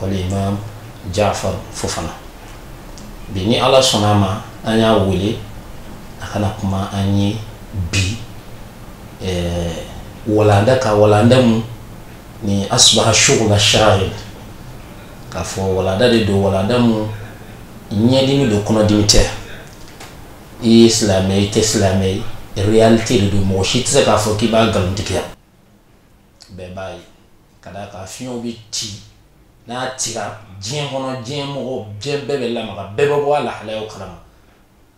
wala imam jafar fofana bi ni ala sɔnna a ma an y'a wele a ka na kuma an ye bi eh, walanda kan walanda mun ni asbaha shugula shari k'a fɔ walanda de don walanda mun ɲɛdimi don kɔnɔdimi tɛ i ye silamɛ i tɛ silamɛ ye réalité de don mɔgɔ si tɛ se k'a fɔ k'i b'a nkalontigiya bɛɛ b'a ye ka da a kan fiɲɛ bɛ ci n'a cira diɲɛ kɔnɔ diɲɛ mɔgɔ diɲɛ bɛɛ bɛ lamaga bɛɛ bɛ bɔ a lahalaya kalama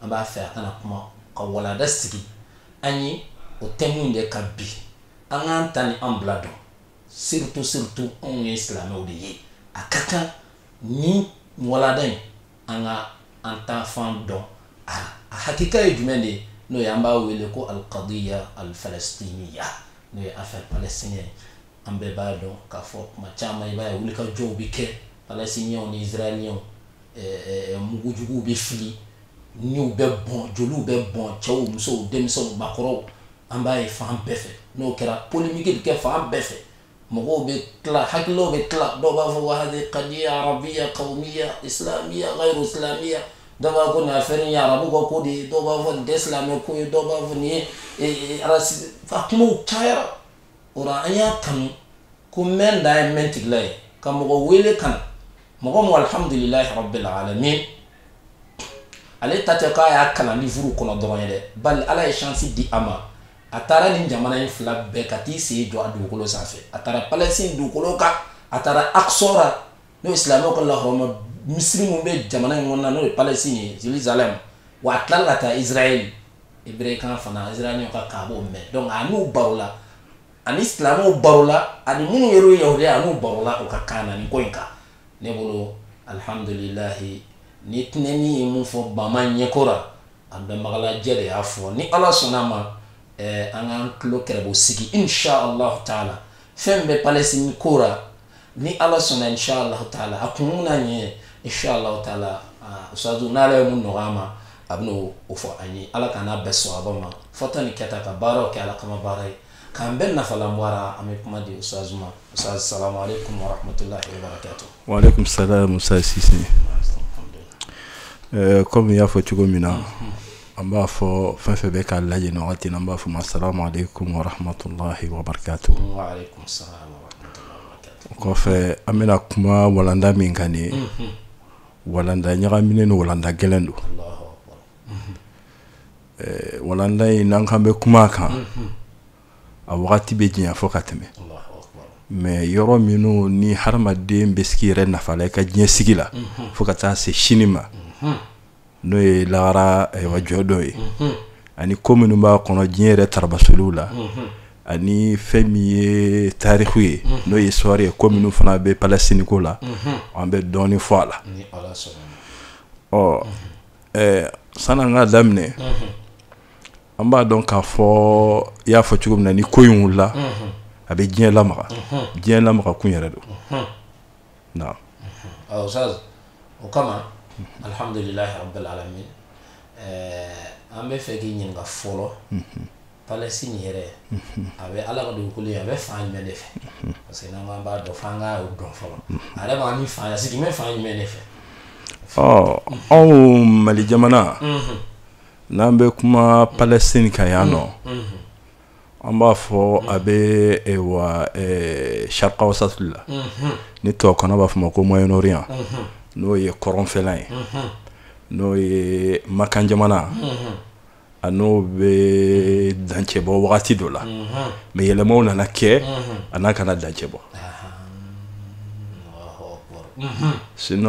an b'a fɛ a ka na kuma ka walanda sigi an ye o thème de kan bi an k'an ta ni an bila dɔn surtout surtout anw ye silamɛw de ye a ka kan nin walanda in an ka an taafan dɔn a la a hakika ye jumɛn de ye n'o ye an b'a wele ko alkadiya alfalastiniya n'o ye affaire palestinienne ye an bɛɛ b'a dɔn k'a fɔ kuma caman i b'a ye wulikajɔw bɛ kɛ palestiniens ni israéliens eh, eh, mugu juguw bɛ fili niw bɛ bɔn joliw bɛ bɔn cɛw musow denmisɛnw maakɔrɔw an b'a ye fan bɛɛ fɛ n'o kɛra polémique bɛ kɛ fan bɛɛ fɛ mɔgɔw bɛ tila hakililaw bɛ tila dɔw b'a fɔ wahadi kadiya arabiya kawumiya isilamiya ghayru isilamiya dɔw b'a fɔ nin afɛri ye arabu ka ko de ye dɔw b'a fɔ nin tɛ silamɛ ko ye dɔw b'a fɔ nin ye e, e, arasi a kumaw cayara o la an y'a kanu ko mɛn dan ye mɛn tigi la ye ka mɔgɔ wele ka na mɔgɔ min alihamudulilayi rabbil alamin ale ta tɛ k'a y'a kalan livuru kɔnɔ dɔrɔn ye dɛ bari ala ye shansi di a ma a taara nin jamana in fila bɛɛ ka t'i sen jɔ a dugukolo sanfɛ a taara palɛsin dugukolo kan a taara aksa ra n'o ye silamɛw ka lahɔrɔma misiri min bɛ jamana in kɔnɔna n'o ye palɛsin ye jerusalem wa a tilala ka taa israɛl hebrekan fana israɛl ka kaabo mɛn donc a n'u barola a ni silamɛw barola ani minnu yer'o yahudiya a n'u barola u ka kan na nin ko in kan ne bolo alhamdulilahi ni tinɛni ye mun fɔ bama ɲɛko la An bɛnbagalajɛ de y'a fɔ ni Ala sɔnn'a ma ɛɛ an k'an tulo kɛrɛbɔ sigi in sha Alahu taala fɛn min bɛ Palestine ko ra ni Ala sɔnna in sha Alahu taala a kun n'a ɲɛ ye in sha Alahu taala aa ustaazu n'Ala ye mun nɔgɔya an ma a bɛna o fɔ an ye Ala k'an n'a bɛn sawaba ma fɔta ni kɛta ka baaraw kɛ Ala kama baara ye K'an bɛɛ nafalan bɔ a ra an bɛ kuma di Oustaz ma Oustaz salam aleyikum warahmatulahi wabarakatu. Waleyikum salam Oustaz Sise ɛɛ comme i y'a fɔ cogo min na an b'a fɔ fɛn fɛn bɛ k'an lajɛ nin wagati in na an b'a fɔ u ma salam aleyikum warahmatulahi wabarakatu. Waleyikum salam warahmatulahi wabarakatu. O kɔfɛ an bɛna kuma walanda min kan nin ye walanda ɲagaminen don walanda gɛlɛn don. Alahu akibaru. Ɛɛ walanda in n'an k'an bɛ kuma a kan, unhun, a wagati bɛ janya fo ka tɛmɛ, Alahu akibaru, mais yɔrɔ minnu ni hadamaden bɛ s'i yɛrɛ nafa la i ka diɲɛ sigi la, unhun, fo ka taa se sini ma, unhun, n'o ye lahara ayiwa jɔ don ye, unhun, ani ko minnu b'a kɔnɔ diɲɛ yɛrɛ tarabasoliw la, unhun, ani fɛn min ye tarikuw ye, unhun, n'o ye histoire ye ko minnu fana bɛ Palestine ko la, unhun, an bɛ dɔɔnin fɔ a la, ni Ala sɔnna ma, ɔ Ɛɛ sani an k'a daminɛ an b'a dɔn k'a fɔ i y'a fɔ cogo min na ni ko in wulila a bɛ diɲɛ lamaga diɲɛ lamaga kun yɛrɛ don nka o kama alihamdulilahi rabilalamina an b'a fɛ k'i ɲininka fɔlɔ Palestine yɛrɛ a bɛ ala ka dugukolo a bɛ fan jumɛn de fɛ parce que n'an b'a dɔn f'an k'a dɔn fɔlɔ a yɛrɛ b'a ni fa sigi bɛ fan jumɛn de fɛ ɔ anw mali jamana n'an bɛ kuma Palestine kan yan nɔ an b'a fɔ a bɛ wa Sharq Awsat la ni tubabukan na b'a fɔ a ma ko Moyen-Orient n'o ye kɔrɔnfɛla ye n'o ye makan jamana a n'o bɛ dancɛbɔ wagati dɔ la mais yɛlɛmaw nana kɛ a n'a kana dancɛbɔ sin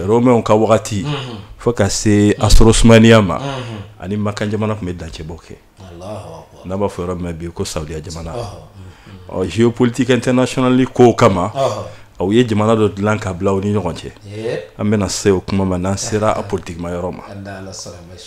romɛw ka wagati fo ka se asiri Usumaniya ma ani Makan jamana tun bɛ dancɛbɔ kɛ n'a b'a fɔ yɔrɔ min bi ko Saudiya jamana ɔ géopolitique internationale ko kama u ye jamana dɔ dilan ka bila u ni ɲɔgɔn cɛ an bɛna se o kuma ma n'an sera a politikimayɔrɔ ma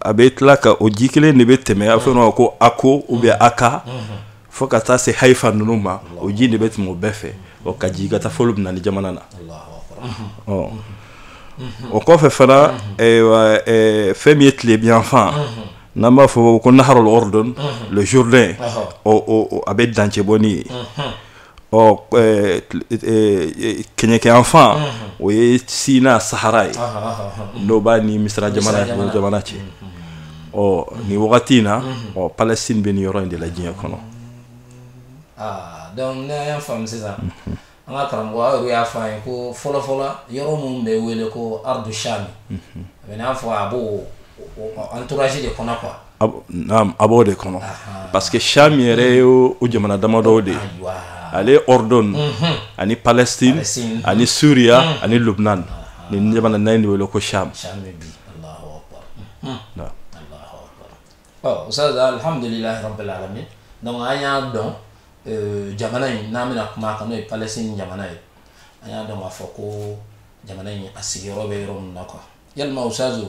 a bɛ tila kɔgɔji kelen de bɛ tɛmɛ a fɔ a ma ko Akko o bɛ Akka fo ka taa se Hayifa ninnu ma o ji de bɛ tɛmɛ o bɛɛ fɛ o kɔgɔji ka taa fo Lubinani jamana na ɔ o kɔfɛ fana fɛn min ye tilebinyanfan n'an b'a fɔ ko nahar Urdun le Jourdain a bɛ dancɛbɔ n'o ye ɔ kɛɲɛkayanfan o ye Sina Sahara ye n'o b'a ni Misira jamana cɛ ɔ ni wagati in na ɔ Palestine bɛ ni yɔrɔ in de la diɲɛ kɔnɔ an ka karamɔgɔ y'a fɔ a ye ko fɔlɔfɔlɔ yɔrɔ minnu bɛ wele ko ardu Sham a b'a fɔ a b' an torasi de kɔnɔ quoi a b'o de kɔnɔ parce que Sham yɛrɛ ye o jamana damadɔ de ye Al Urdun ani Palestine ani Suriya ani Lubinani nin jamana naani de wele ko Sham an y'a dɔn jamana in n'an bɛna kuma a kan n'o ye Palestine jamana ye an y'a dɔn k'a fɔ ko jamana in a sigiyɔrɔ bɛ yɔrɔ min na quoi yalimasaso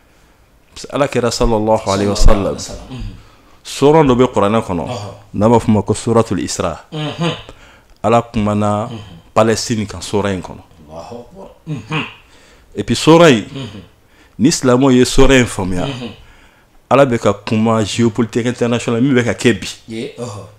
ala kɛra sa sɔrɔ dɔ bɛ kuranɛ kɔnɔ n'a b'a f' ma ko sotuli i sira ala tumaumana pɛ sini ka so in kɔnɔ epi sora yen ni silamɛw ye sɔɔrɔ in faamuya ala bɛ ka kuma ziopolitesɛ na min bɛ ka kɛ bi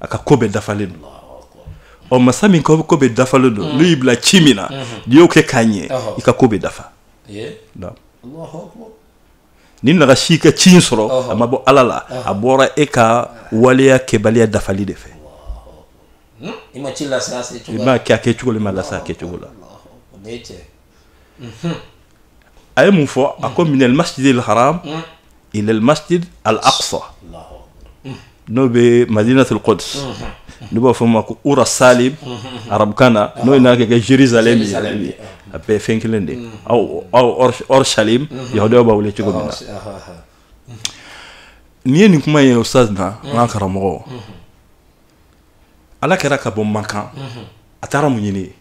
a ka ko bɛɛ dafalen don ɔ masa min ka ko bɛɛ dafalen don n'u y'i bila ci min na n'i y'o kɛ k'a ɲɛ i ka ko bɛ dafa ni nagasi i ka ci in sɔrɔ a ma bɔ ala la a bɔra e ka waleya kɛbaliya dafali de fɛ i m'a kɛ a kɛ cogo la i m'a lase a kɛ cogo la a ye mun fɔ a ko minal masjidil haram ilal masjid al aqsa n'o bɛ madinatul quds n'u b'a fɔ ma ko urshalim arabukan na n'o ye n'a kɛ kɛ jerusalem ye a bɛɛ fɛn kelen de aw aw urshalim yahudiyaw b'a wele cogo min na nin ye nin kuma ye ustaz na an ka karamɔgɔ ala kira ka bɔ makan a taara mun ɲini yen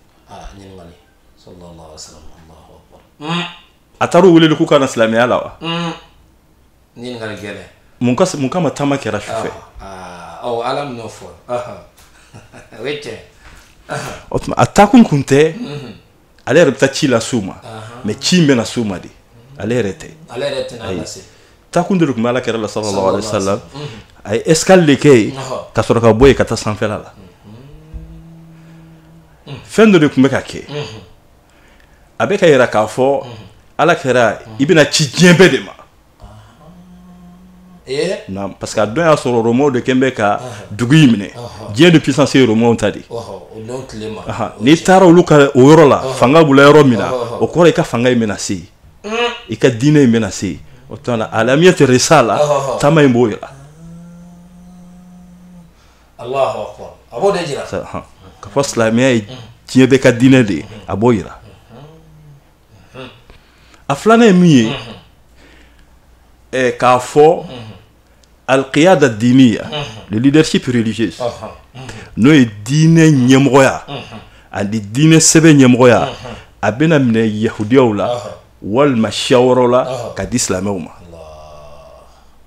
a taara u wele k'u ka na silamɛya la wa mun kama taama kɛra su fɛ o tuma a taakun kun tɛ ale yɛrɛ bɛ taa ci las'u ma mais ci in bɛna s'u ma de ale yɛrɛ tɛ taakun de tun bɛ ala kira la sallallahu alaihi wasallam a ye escale de kɛ yen ka sɔrɔ ka bɔ yen ka taa sanfɛla la fɛn dɔ de tun bɛ ka kɛ a bɛ k'a yira k'a fɔ ala kira i bɛna ci diɲɛ bɛɛ de ma na parce que a don y'a sɔrɔ rɔmaw de kɛlen bɛ ka dugu in minɛ diɲɛ de puissance ye rɔmaw ta de n'i taara olu ka o yɔrɔ la fanga bolo yɔrɔ min na o kɔrɔ i ka fanga in bɛna se i ka diinɛ in bɛna se o tuma alamiyatu risala taama in b'o yira k'a fɔ silamɛya ye diɲɛ bɛɛ ka diinɛ de ye a b'o jira a filanan ye mun ye eh, k'a fɔ al qiyada diniya le leadership religieux n'o ye diinɛ ɲɛmɔgɔya ani diinɛ sɛbɛ ɲɛmɔgɔya a bɛna minɛ yahudiyaw la walima siya wɔrɔ la ka di silamɛw ma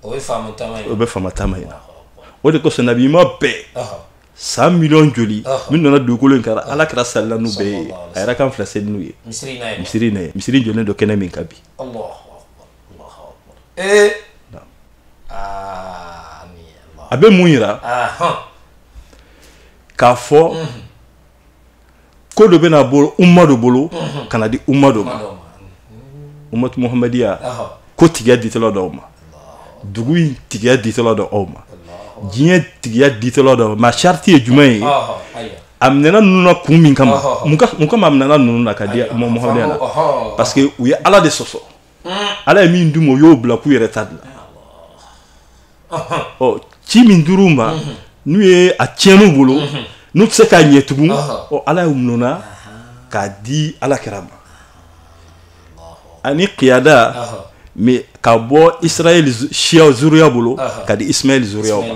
o bɛ faamu taama in na o de kosɔn nabi ɲuman bɛɛ san miliyɔn joli min nana dugukolo in kan ala kira selila n'u bɛɛ ye a ye rakan fila seli n'u ye misiri in na yen misiri jɔlen don kɛnɛ min kan bi a bɛ mun yira k'a fɔ ko dɔ bɛna bɔ umma dɔ bolo mhm. ka na di umma dɔ ma ummatu muhammadiya kotigiya ditɔla don aw ma dugu in tigiya ditɔla don aw ma diɲɛ tigiya ditɔla don aw ma sariti ye jumɛn ye a minɛna ninnu na kun min kama mun kama a minɛna ninnu na ka di muhammadiya la parce que u ye ala de sɔsɔ ala ye min d'u ma o y'o bila k'u yɛrɛ ta dilan ɔ ci min dir'u ma n'u ye a tiɲɛn'u bolo n'u tɛ se k'a ɲɛ tugun ɔ ala y'a min'u na k'a di ala kira ma ani kiyada mais ka bɔ israɛl siyaw zuriya bolo ka di ismaɛl zuriyaw ma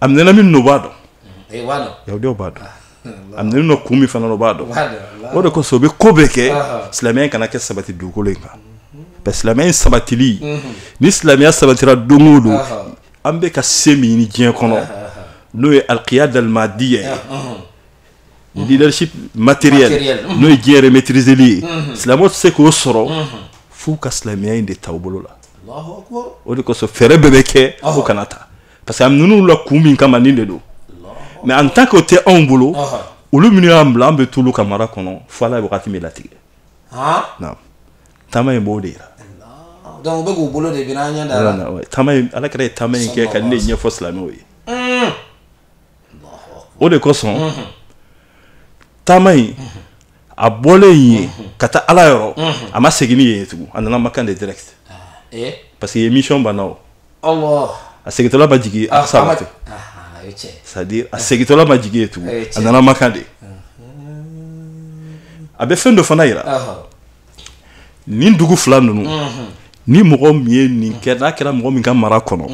a minɛna min n'o b'a dɔn eh, yahudiyaw b'a dɔn ah, a minɛna kun min fana o b'a dɔn o de kosɔn o bɛ ko bɛɛ kɛ silamɛya kana kɛ sabati dugukolo in kan mhm. bɛ silamɛya in sabatili mhm. ni silamɛya sabatira don o don an bɛ ka se min ɲini diɲɛ kɔnɔ n'o ye alikiyada alimadiya ye mhm. leadership matériel n'o ye diɲɛ yɛrɛ maîtriseli ye silamɛw tɛ se k'o sɔrɔ f'u ka silamɛya in de ta u bolo la o de kosɔn fɛɛrɛ bɛɛ bɛ kɛ fo kana ta parce que ninnu la kun min kama nin de don mais en tant que o tɛ anw bolo olu minnu y'a bila an bɛ t'olu ka mara kɔnɔ fo ala ye wagati min latigɛ naam taama in b'o de yira donc u bɛ k'u bolo de biri an ɲɛda la taama in ala kira ye taama in kɛ ka nin de ɲɛfɔ silamɛw ye hmm. o de kosɔn hmm. taama in hmm. a bɔlen yen ka taa ala yɔrɔ a ma segin ni yen ye tugun a nana makan de direct ah, eh? parce que mission banna o a segintɔla ma jigin a saba tɛ sadi a segintɔla ma jigin yen tugun a nana makan de a bɛ fɛn dɔ fana jira nin dugu fila ninnu ni mɔgɔ min ye nin kɛ n'a kɛra mɔgɔ min ka mara kɔnɔ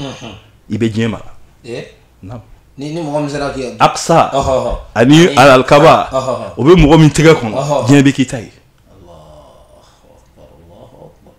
i bɛ diɲɛ mara alakisa ani alikaba o bɛ mɔgɔ min tɛgɛ kɔnɔ diɲɛ bɛ k'i ta ye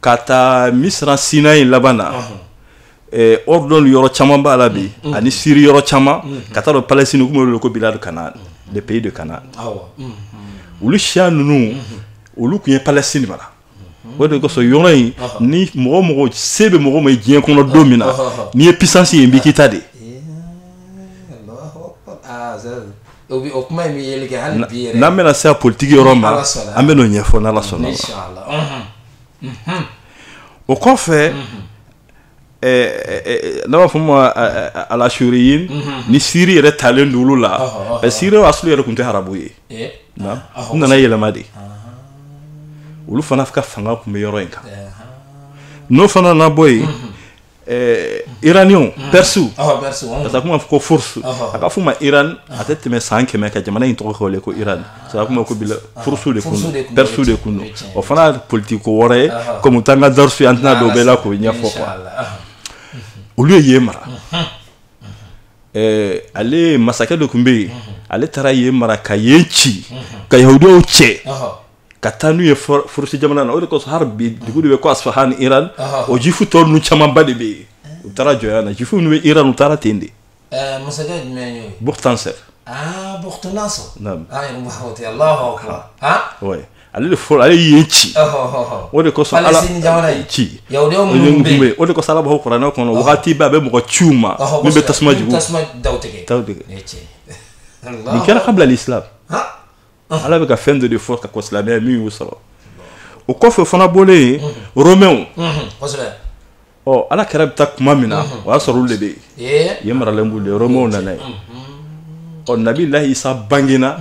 Ka taa misira sinaï liban ani jordanie yɔrɔ caman b'a la bi ani siri yɔrɔ caman ka taa don palestine ko bilad kanaan de pays de canaan olu siya ninnu olu tun ye palestine mara o de kosɔn yɔrɔ in ni mɔgɔ o mɔgɔ se bɛ mɔgɔ ma ye diɲɛ kɔnɔ don min na n'i ye puissance ye yen bɛ k'i ta de n'an bɛna se politigi yɔrɔ ma an bɛn'o ɲɛfɔ ala sɔnna o kɔfɛ ne b'a fɔ u ma al asuriyini siri yɛrɛ talen dugu la ɛ siri y'a sɔrɔ yɛrɛ tun tɛ arabu ye u nana yɛlɛma de olu fana ka fanga tun bɛ yɔrɔ in kan n'o fana nana bɔ yen iraniw pɛrɛsiw ka kuma fɔ ko furusu a ka f'u ma iran a tɛ tɛmɛ san kɛmɛ kan jamana in tɔgɔ kɛlen ko iran sa kuma ko furusu de don pɛrɛsiw de don o fana politikiko wɛrɛ ye kɔmi a t'an ka darusu an tɛna don o bɛɛ la k'o ɲɛfɔ kuwa olu ye yen mara ale masakɛ dɔ tun bɛ yen ale taara yen mara ka yen ci ka yahudiyaw cɛ ka taa n'u ye furusi jamana na o de kosɔn hali bi dugu de bɛ ko asfahan iran o jifu tɔ ninnu camanba de bɛ yen u taara jɔnya na jifu ninnu bɛ iran u taara ten de masakɛ jumɛn y'o ye bukhtansɛr bukhtansɛr naam allahu akbar ouais ale de fɔlɔ ale y'a ci o de kosɔn ala ci bɛ o de kosɔn ala b'a kofɔ kuranɛ kɔnɔ wagati bɛɛ a bɛ mɔgɔ ci u ma min bɛ tasuma jigin tasuma daw tigɛ daw tigɛ nin kɛra qabla l'islam ala bɛ ka fɛn dɔ de fɔ ka kɔn silamɛya min y'u sɔrɔ o kɔfɛ fana bɔlen yen romɛw ɔ ala kira bɛ taa tuma min na o y'a sɔrɔ olu de bɛ yen yen maralen b'u de romɛw nana yen ɔ nabilahi isa bangena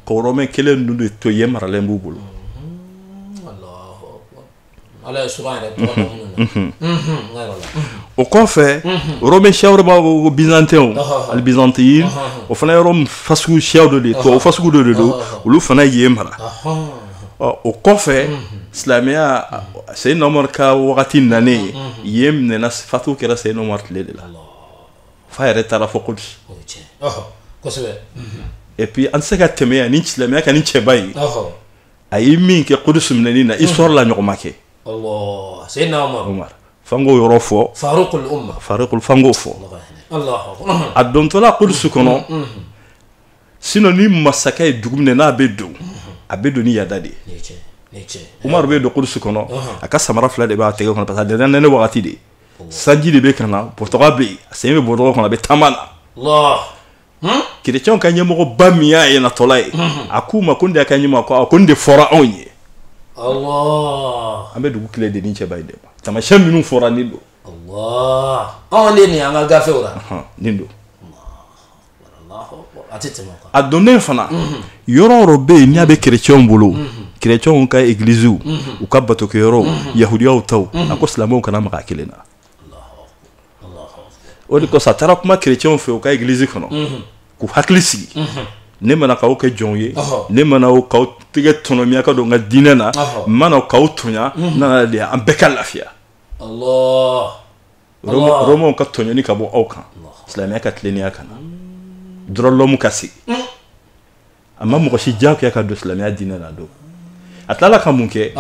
ka romɛ kelen ninnu de to yen maralen b'u bolo o kɔfɛ bɛ siyaoroba ko bizantɛn ali bizanti o fana yɔrɔ fa siya dɔ de to fa sugu dɔ de don olu fana ye yen mara ɔ o kɔfɛ silamɛya Seydina Umaru ka wagati nan ye yen fatu kɛra Seydina Umaru tile de la f'a yɛrɛ taara fo kudusi epi an tɛ se ka tɛmɛ yan ni silamɛya ka nin cɛba ye a ye min kɛ kudusu minɛni na histoire la a ɲɔgɔn ma kɛ Allah Seydina Umaru Umaru f'an k'o yɔrɔ fɔ Farukul Umma Farukul f'an k'o fɔ Alahu Akbar a dontɔla kudusu kɔnɔ sinon ni masakɛ ye dugu minɛ n'a bɛ don a bɛ don ni yada de ye nin ye tiɲɛ nin ye tiɲɛ Umaru bɛ don kudusu kɔnɔ a ka samara fila de b'a tɛgɛ kɔnɔ parce que a donna nɛnɛ wagati de sanji de bɛ ka na bɔtɔgɔ bɛ yen a sen bɛ bɔtɔgɔ kɔnɔ a bɛ taama na Allah kirecɛnw ka ɲɛmɔgɔba min y'a ye natɔla ye a k'u ma ko nin de y'a ka ɲɛmɔgɔ a ko nin de fɔra anw ye an bɛ dugu kile di nin cɛba ye dɛ tamasiyɛn minnu fɔra nin don anw de nin an ka gafew la nin don a donnen fana yɔrɔ o yɔrɔ bɛ yen n'a bɛ kirecɛnw bolo kirecɛnw ka egiliziw u ka batokɛyɔrɔw yahudiyaw taw a ko silamɛw kana maga kelen na o de kosɔn a taara kuma kerecɛnw fɛ u ka egilizi kɔnɔ k'u hakili sigi ne ma na k'aw kɛ jɔnw ye ne ma na k'aw tɛgɛ tɔnɔmi aw ka don n ka diinɛ na ma na k'aw tɔɲɔ n nana de an bɛɛ ka lafiya rɔmaw ka tɔɲɔni ka bɔ aw kan silamɛya ka tilennenya ka na droit de l'homme ka sigi a ma mɔgɔ si diyagoya ka don silamɛya diinɛ la don a tilala ka mun kɛ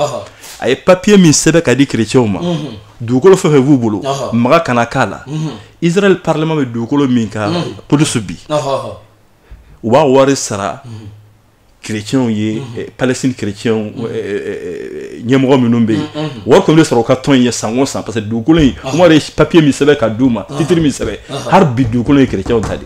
a ye papiye min sɛbɛn k'a di kerecɛnw ma mhm. dugukolo fɛn fɛn b'u bolo maga kana k'a la mhm. israɛl parlement bɛ dugukolo min kan kudusu mhm. bi u b'a wari sara kerecɛnw ye eh, palestine kerecɛnw eh, eh, ɲɛmɔgɔ minnu bɛ yen wari kɔni bɛ sara u ka tɔn in ye san o san parce que dugukolo in umaru de ye papiye min sɛbɛn k'a d'u ma titiri min sɛbɛn hali bi dugukolo ye kerecɛnw ta de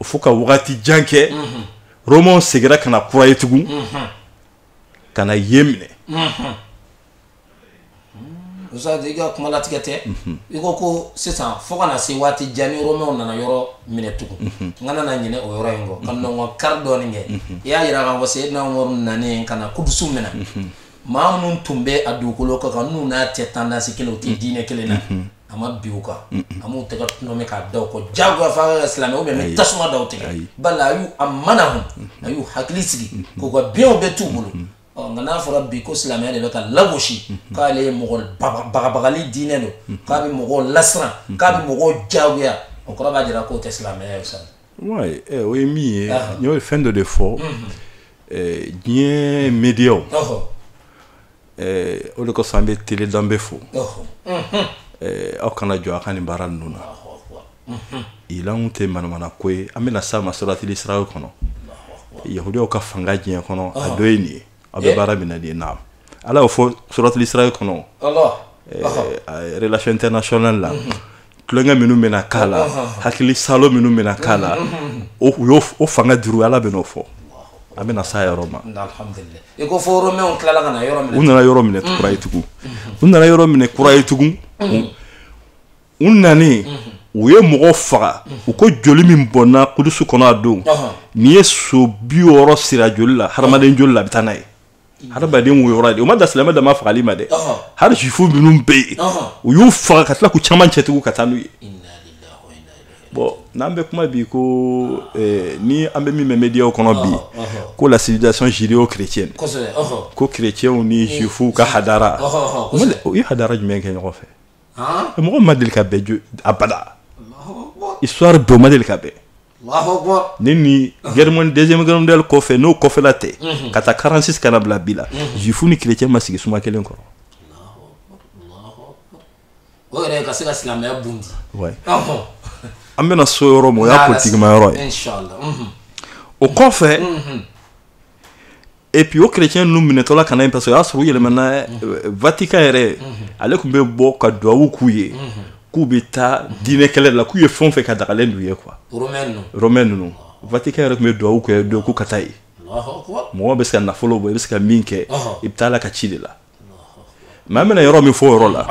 o fo ka wagati jan kɛ romaw seginna ka na kura ye tugun ka na yen minɛ i ka kumalatigɛ tɛ i ko ko sisan fo ka na se waati jan na romaw nana yɔrɔ minɛ tugun n kana na ɲinɛ o yɔrɔ in kɔ ka nɔn kari dɔɔnin kɛ i y'a jira ka se n'an yɔrɔ nalen ka na kudusu minɛ maa minnu tun bɛ a dugukolo kan n'u n'a tɛ tendance kelen u tɛ diinɛ kelen na a ma bin u kan a m'u tɛgɛ tɔnɔmi k'a da u kɔ jagoya fo a ka kɛ silamɛ ou bien ni tasuma da u tigɛ Ayi. bala a y'u amana hun a y'u hakili sigi k'u ka bienw bɛɛ t'u bolo ɔ nka n'a fɔra bi ko silamɛya de bɛ ka lagosi k'ale ye mɔgɔ baga- bagabagali diinɛ don k'a bɛ mɔgɔw lasiran k'a bɛ mɔgɔw jagoya o kɔrɔ b'a jira k'o tɛ silamɛya ye sa Ouais, eh, o ye min ye Ah. n y'o fɛn dɔ de fɔ eh, diɲɛ mediyaw ɔhɔ ɛɛ o de kosɔn an bɛ tele danbe fo ɛɛ aw kana jɔ aw ka nin baara ninnu na ilamu tɛ manamana ko ye an bɛna s'a ma suratul isra kɔnɔ yahudiyaw ka fanga diɲɛ kɔnɔ a dɔ ye nin ye aw bɛ baara min na nin ye naam ala y'o fɔ suratul isra kɔnɔ ɛɛ relation internationale la tulonkɛ minnu bɛna k'a la hakili salo minnu bɛna k'a la o fanga juru ala b'o fɔ an bɛna s'o yɔrɔ ma u nana yɔrɔ minɛ kura ye tugun u nana yɔrɔ minɛ kura ye tugun u nanen u ye mɔgɔ faga u ko joli min bɔnna kudusu kɔnɔ o don n'i ye so bi sira joli la hadamaden joli la a bɛ taa n'a ye hadamaden woyora de o ma dan silamɛ dama fagali ma dɛ hali juifu minnu bɛ yen u y'u faga ka tila k'u caman cɛ tugun ka taa n'u ye bon n'an bɛ kuma bi ko eh, ni an bɛ min mɛn mediyaw kɔnɔ bi ko la civilisation judeo chrétienne ko chrétienw ni juifuw ka hadara u ye hadara jumɛn kɛ ɲɔgɔn fɛ mɔgɔ ma deli ka bɛn abada histoire don u ma deli ka bɛn ni gɛrɛmani deuxième guerre mondiale kɔfɛ n'o kɔfɛla tɛ k'a ta 46 ka na bila bi la juif ni chrétien ma sigi suma kelen kɔrɔ o yɛrɛ ka se ka silamɛya bundi an bɛna s'o yɔrɔ ma o y'a politigima yɔrɔ ye o kɔfɛ et puis o chrétien ninnu minɛtɔla ka ɲi parce que o y'a sɔrɔ u yɛlɛmana euh, vatican yɛrɛ ale tun bɛ bɔ ka duwawu k'u ye k'u bɛ taa diinɛ kɛlɛ la k'u ye fɛn o fɛn kɛ a dagalen d'u ye quoi romain ninnu vatican yɛrɛ tun bɛ duwawu kɛ don k'u ka taa yen mɔgɔ bɛ se ka nafolo bɔ i bɛ se ka min kɛ i bɛ taa ala ka ci de la mais an bɛna yɔrɔ min fɔ o yɔrɔ la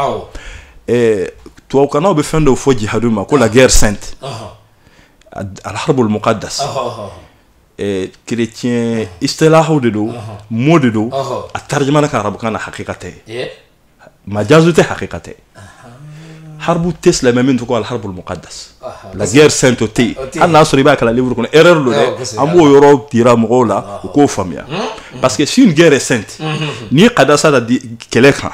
euh, tubabukannaw bɛ fɛn dɔw fɔ jihadu ma ko la guerre sainte alharbul muqaddas kerecɛn isitilahaw de don mot de don a tarijamana ka arabukan na hakika tɛ majazo tɛ hakika tɛ harbu tɛ silamɛ fɛ min tɔgɔ harbu muqaddas la guerre sainte o tɛ yen hali i y'a sɔrɔ i b'a kalan livre kɔnɔ e don dɛ an b'o yɔrɔ jira mɔgɔw la u k'o faamuya parce que saint guerre sainte n'i ye qaddasa da kɛlɛ kan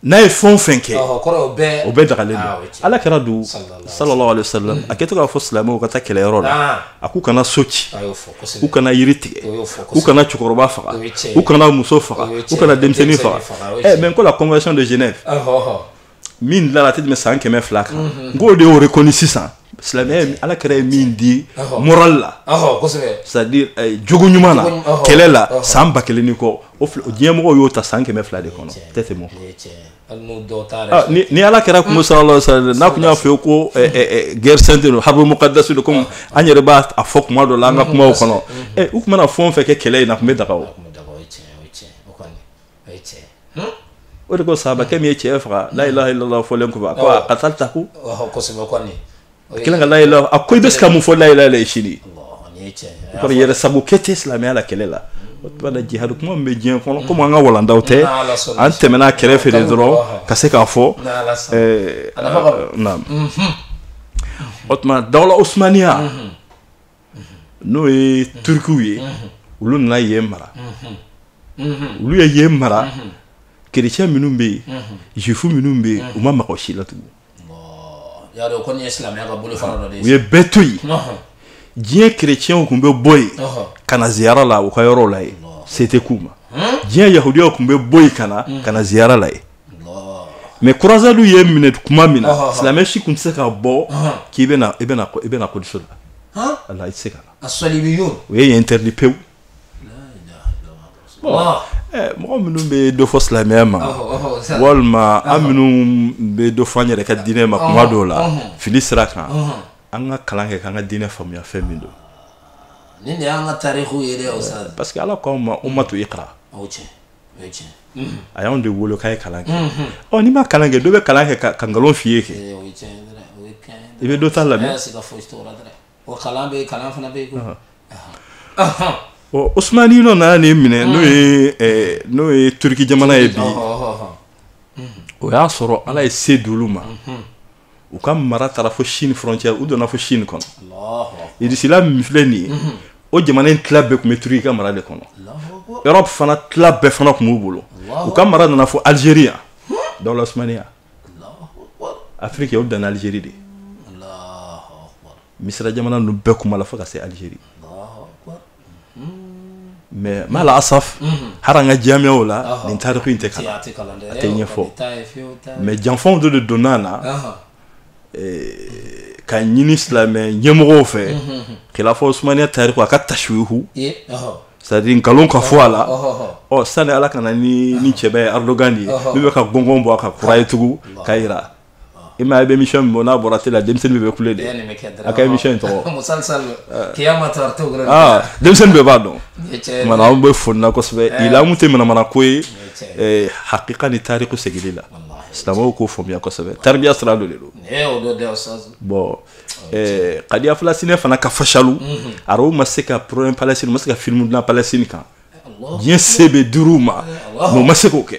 n'a ye fɛn o fɛn kɛ o bɛɛ dagalen don ala kira dun sallallahu alaihi wasallam a kɛtɔ k'a fɔ silamɛw ka taa kɛlɛyɔrɔ la a k'u kana so ci u kana yiri tigɛ u kana cɛkɔrɔba faga u kana muso faga u kana denmisɛnnin faga ɛ mais n ko la convention de Genève min dilara a tɛ tɛmɛ san kɛmɛ fila kan n k'o de y'o reconnu sisan silamɛya ala kira ye min di moral la c'est à dire eh, jogo ɲuman na kɛlɛ la san ba kelen ni kɔ o diɲɛmɔgɔw y'o ta san kɛmɛ fila de kɔnɔ tɛ tɛmɛ ah, ni ala kira kun ko sallallahu alaihi wasallam n'a kun y'a fɔ ko eh, eh, guerre sainte don harbu muqaddas don comme an yɛrɛ b'a a fɔ kuma dɔ la an ka kumaw kɔnɔ u kun mana fɛn o fɛn kɛ kɛlɛ in na a kun bɛ daga o o ye tiɲɛ ye o de ko sahabakɛ min ye cɛ faga la ilaha illallah fɔlen kɔ a ko aqataltahu kosɛbɛ kɔni a kɛlen ka la ilaha a ko i bɛ se ka mun fɔ la ilaha illallah sini kɔni yɛrɛ sabu kɛ tɛ silamɛya la kɛlɛ la o tuma na jihadu kuma min bɛ diɲɛ kɔnɔ komi an ka walanda o tɛ an tɛmɛna a kɛrɛfɛ de dɔrɔn ka se k'a fɔ naam o tuma dawula usumaniya n'o ye turikiw ye olu nana yen mara olu ye yen mara kerecɛn minnu bɛ yen juif minnu bɛ yen u ma maga si la tugun u ye bɛɛ to yen diɲɛ kerecɛnw kun bɛ bɔ yen ka na ziyara la u ka yɔrɔ la yen se tɛ k'u ma diɲɛ yahudiyaw kun bɛ bɔ yen ka na ka na ziyara la yen mais croisades ye minɛ tuma min na silamɛ si tun tɛ se ka bɔ k'i i bɛna kodiso la ala i tɛ se ka o ye interdit pewu mɔgɔ minnu bɛ dɔ fɔ silamɛya ma walima an minnu bɛ dɔ fɔ an yɛrɛ ka diinɛ ma kuma dɔw la fili sira kan an ka kalan kɛ k'an ka diinɛ faamuya fɛn min don ni ka tari ye parce que ala k' ma u ma to i kala a y'anw de wolo k'a ye kalan kɛ ɔ n'i ma kalan kɛ dɔ bɛ kalan kɛ ka nkalon f'i ye kɛ i bɛ dɔ ta lamɛn ɔ osmaninw nana nin minɛ n'o ye n'o ye turuki jamana ye bi o y'a sɔrɔ ala ye se d'olu ma u ka mara taara fo chine frontière u donna fo chine kɔnɔ idisila min filɛ nin ye mhm. o jamana in tila bɛɛ tun bɛ turuki ka mara de kɔnɔ europe fana tila bɛɛ fana tun b'u bolo u ka mara nana fo algérie yan dawula usumaniya afiriki o danna algérie de misira jamana ninnu bɛɛ kuma la fo ka se algérie Mais ma la asaf hali an ka jamiyaw la nin tariku in tɛ kalan a tɛ ɲɛfɔ mais janfanw de de donna a la ka ɲini silamɛ ɲɛmɔgɔw fɛ kilafa usumaniya tariku a ka tasuuhu c'est à dire nkalon ka fɔ a la ɔ sani ala ka na ni nin cɛba ye erdogan de ye min bɛ ka gɔngɔn bɔ a kan kura ye tugun k'a jira i ma i bɛ émission min bɔ n'a bɔra télé la denmisɛnnin bɛɛ bɛ kule de a ka émission in tɔgɔ denmisɛnnin bɛɛ b'a dɔn kumana anw bɛ foli na kosɛbɛ ila an kun tɛ manamana ko ye hakika ni tariku segili la silamɛw k'o faamuya kosɛbɛ taribiya sira dɔ de don bon kadiya falastinɛ fana ka fashalu araw ma se ka problème palestine ma se ka film dilan palestine kan diɲɛ se bɛɛ dir'u ma mais u ma se k'o kɛ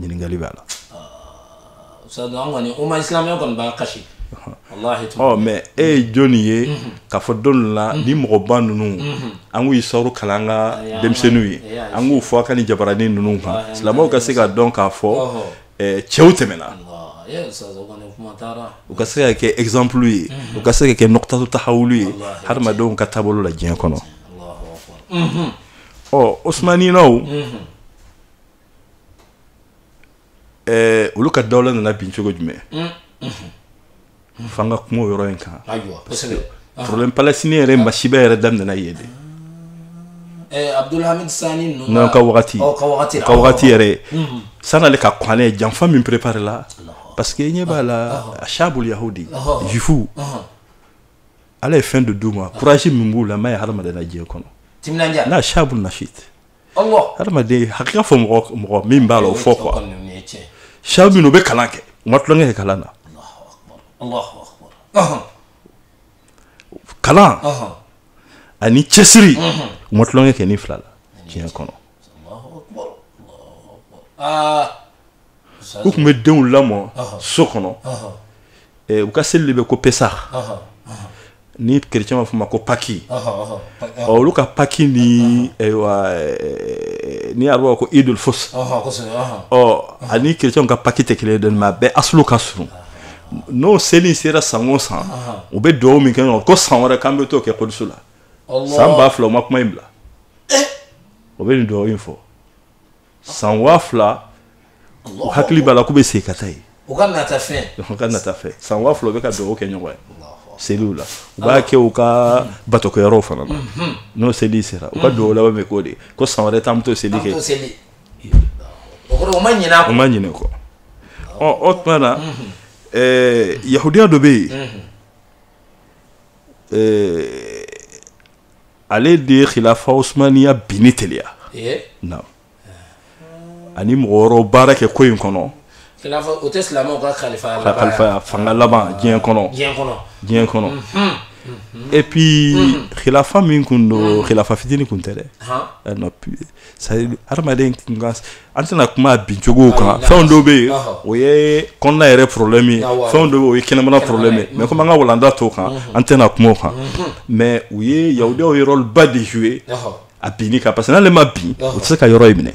ɲininkali b'a la mɛ e ye jɔn nin ye mhm. ka fɔ don la mhm. ni mɔgɔba ninnu mhm. an k'u siira kalan an ka denmisɛnninw ye an k'u fɔ an ka nin jabaranin ninnu kan silamɛw ka se ka dɔn k'a fɔ cɛw tɛmɛna u ka se ka kɛ ezanplu ye u ka se ka kɛ nukutatu tahawulu ye hadamadenw ka taabolo la diɲɛ kɔnɔ ɔ osmaninaw ɛɛ olu ka dawla nana bin cogo jumɛn f'an ka kuma o yɔrɔ in kan ayiwa kosɛbɛ problème palestinien yɛrɛ masiba yɛrɛ daminɛna yen de ɛɛ abdulhamid sani ninnu n'an ka wagati ɔ ka wagati la ka wagati yɛrɛ san'ale ka kɔn ale janfa min préparé la parce que i ɲɛ b'a la ashabul yahudi Ɔhɔ. juif Ɔhɔn. ala ye fɛn de d'u ma courage min b'u la ma ye hadamaden na diɲɛ kɔnɔ timinandiya n'a shabu nashit hadamaden hakika fɔ mɔgɔ mɔgɔ min b'a la o fɔ quoi shabu min u bɛ kalan kɛ u ma tulonkɛ kɛ kalan na kalan ani cɛsiri u ma tulonkɛ kɛ nin fila la diɲɛ kɔnɔ U tun bɛ denw lamɔ so kɔnɔ u ka seli de bɛ ko pesa ni kerecɛnw b'a fɔ a ma ko paki olu ka paki ni arabu b'a fɔ ko idul fo ani kerecɛnw ka paki tɛ kelen dɔn a bɛ a ka s n'o seli sera san o san u bɛ dugawu min kɛ ko san wɛrɛ k'an bɛ t'o kɛ so la san ba fila u ma kuma in bila eh! u bɛ nin dugawu in fɔ san waa fila u hakili b'a la k'u bɛ segin ka taa yen u ka nata fɛn u ka nata fɛn san waa fila u bɛ ka dugawu kɛ ɲɔgɔn ye seliw la u b'a kɛ u ka batokɛyɔrɔw fana na mhm. n'o seli sera u ka mhm. dugawu laban bɛ k'o de ko san wɛrɛ k'an bɛ t'o seli kɛ u ma ɲinɛ u ma ɲinɛ kɔ ɔ o tuma na mhm. eh, yahudiya dɔ bɛ yen eh, ale de ye khilafa usmaniya binni teliya eh? na ani mɔgɔ wɛrɛw baara kɛ ko in kɔnɔ o tɛ silamɛw ka kalifa kalifa fanga laban diɲɛ kɔnɔ diɲɛ kɔnɔ diɲɛ kɔnɔ et puis khilafa min kun don khilafa fitini kun tɛ dɛ hadamaden an tɛna kuma a bincogo kan fɛn dɔ bɛ yen o ye kɔnɔna yɛrɛ problème ye fɛn dɔ bɛ o ye kɛnɛmana problème ye mais komi an ka walanda t'o kan an tɛna kuma o kan mais o ye yahudiyaw ye rôle ba de jouer a binni kan parce que n'ale ma bin u tɛ se ka yɔrɔ in minɛ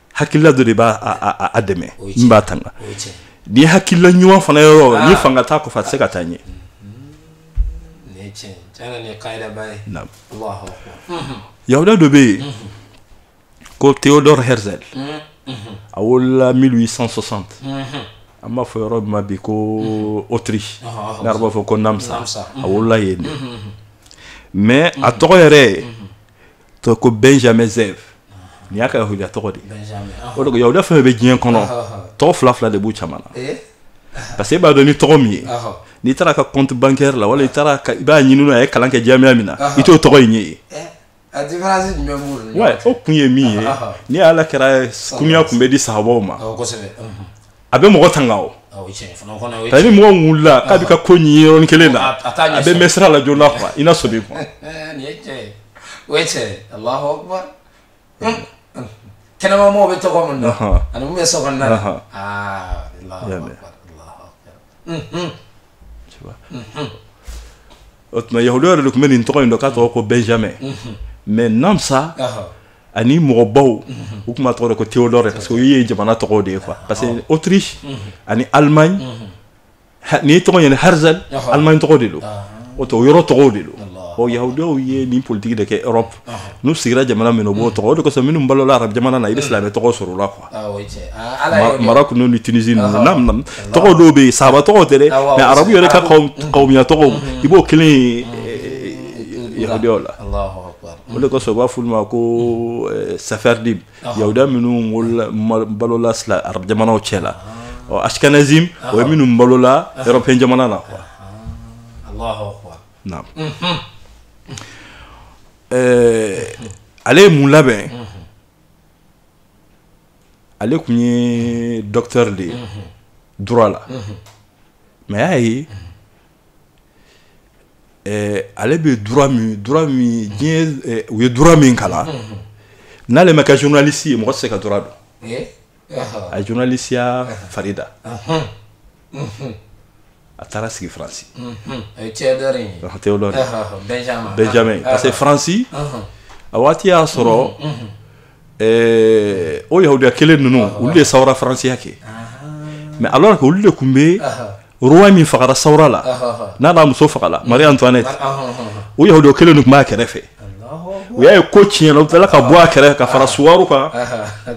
hakilila dɔ de b'a dɛmɛ min b'a tanga ni hakilila ɲuman fana yɔrɔ ah. ni fanga t'a kɔfɛ a tɛ se ka taa ɲɛ yahudiya dɔ bɛ yen mhm. ko theodore herzl mhm, mhm. a wolola 1860 an b'a fɔ yɔrɔ ma bi ko autriche ah, ah, n'arabu b'a fɔ ko namsa a wolola yen de mais a tɔgɔ yɛrɛ ye to ko benjamin zev nin y'a ka yahudiya tɔgɔ de ah. o de ko yahudiya fɛn bɛ diɲɛ kɔnɔ ah, ah, tɔgɔ fila fila de b'u caman na eh? parce que e b'a dɔn ni tɔgɔ min ye n'i taara ka compte bancaire la wala i taara i b'a ɲini a ye kalan kɛ jamiya min na i t'o tɔgɔ in ye yen eh? o kun ye min ye ni ala kɛra kunya kun bɛ di sahabaw ma a bɛ mɔgɔ tanga o ta ni mɔgɔ wulila k'a bɛ ka ko ɲini yɔrɔnin kelen na a bɛ mɛ sira la joona quoi i na sɔmi ko a kɛnɛmamɔgɔw bɛ tɔgɔ min na ani mun bɛ so kɔnɔna na o tuma yahudiya yɛrɛ de tun bɛ nin tɔgɔ in dɔn k'a tɔgɔ ko benjamin mais namsa ani mɔgɔbaw u tun b'a tɔgɔ de ko theodore parce que olu ye jamana tɔgɔw de ye quoi parce que autriche ani allemagne n'i tɔgɔ ɲɛna herzl allemagne tɔgɔ de don o tɛ o yɔrɔ tɔgɔw de don ɔ yahudiyaw ye nin politiki de kɛ europe n'u sigira jamana min o b'o tɔgɔ o de kosɔn minnu balola arabu jamana na i bɛ silamɛ tɔgɔ sɔrɔ o la quoi ah, ah, Ala y'o de- maroc ni tunisie ninnu na na tɔgɔ dɔw bɛ yen sahaba tɔgɔw tɛ dɛ Ah, wa, mais wa, arabu yɛrɛ ka arabu. kawum- kawumiya tɔgɔw i b'o kelen ye eh, yahudiyaw la Allahu akbar. o de kosɔn u b'a f'olu ma ko eh, sefardim yahudiya minnu wolola- ma- balola sila arabu jamanaw cɛ la ɔ ashkenazim o ye minnu balola européen jamana na quoi Allahu akbar. ale ye mun labɛn ale tun ye docteur de ye droit la mais a y'a ye ale bɛ u ye droit min kalan n'ale ma kɛ journaliste ye mɔgɔ tɛ se ka droit don a ye journalistiya farida a taara sigi faransi benjamin parce que faransi a waati y'a sɔrɔ o yahudiya kelen ninnu olu de sawura faransiya kɛ mais alors que olu de tun bɛ roi min fagara sawura la n'a n'a muso fagala marie antoinette o yahudiya kelen ninnu tun b'a kɛrɛfɛ u y'a ye ko tiɲɛna u tilala ka bɔ a kɛrɛfɛ ka fara suwaru kan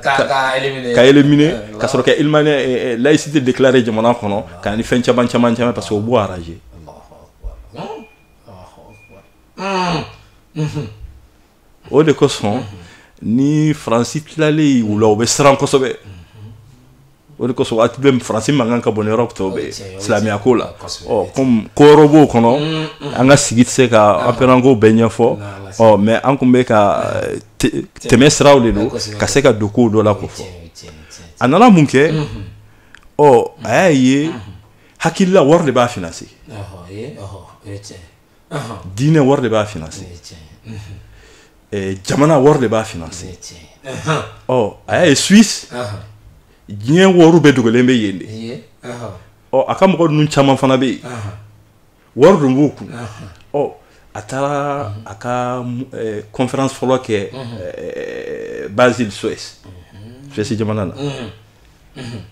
k'a éliminer ka sɔrɔ ka elimane laïcité déclarer jamana kɔnɔ ka ni fɛn caman caman caman parce que u b'o arranger o de kosɔn ni faransi tilalen u la u bɛ siran kosɛbɛ o de kosɔn waati bɛɛ faransi mankan ka bon europe tɔw bɛɛ silamɛya ko la kɔmi kɔrɔ b'o kɔnɔ an ka sigi tɛ se ka anpɛranko bɛɛ ɲɛfɔ ɔ mais an tun bɛ ka tɛmɛ siraw de don ka se ka don ko dɔ la ko fɔ a nana mun kɛ ɔ a y'a ye hakilila wari de b'a financer diinɛ wari de b'a finance jamana wari de b'a finance ɔ a y'a ye Suisse diɲɛ wariw bɛɛ dogolen bɛ yen de ɔ a ka mɔgɔ ninnu caman fana bɛ yen wari dun b'u kun ɔ a taara a ka conférence fɔlɔ kɛ Basel Suisse Suisse jamana na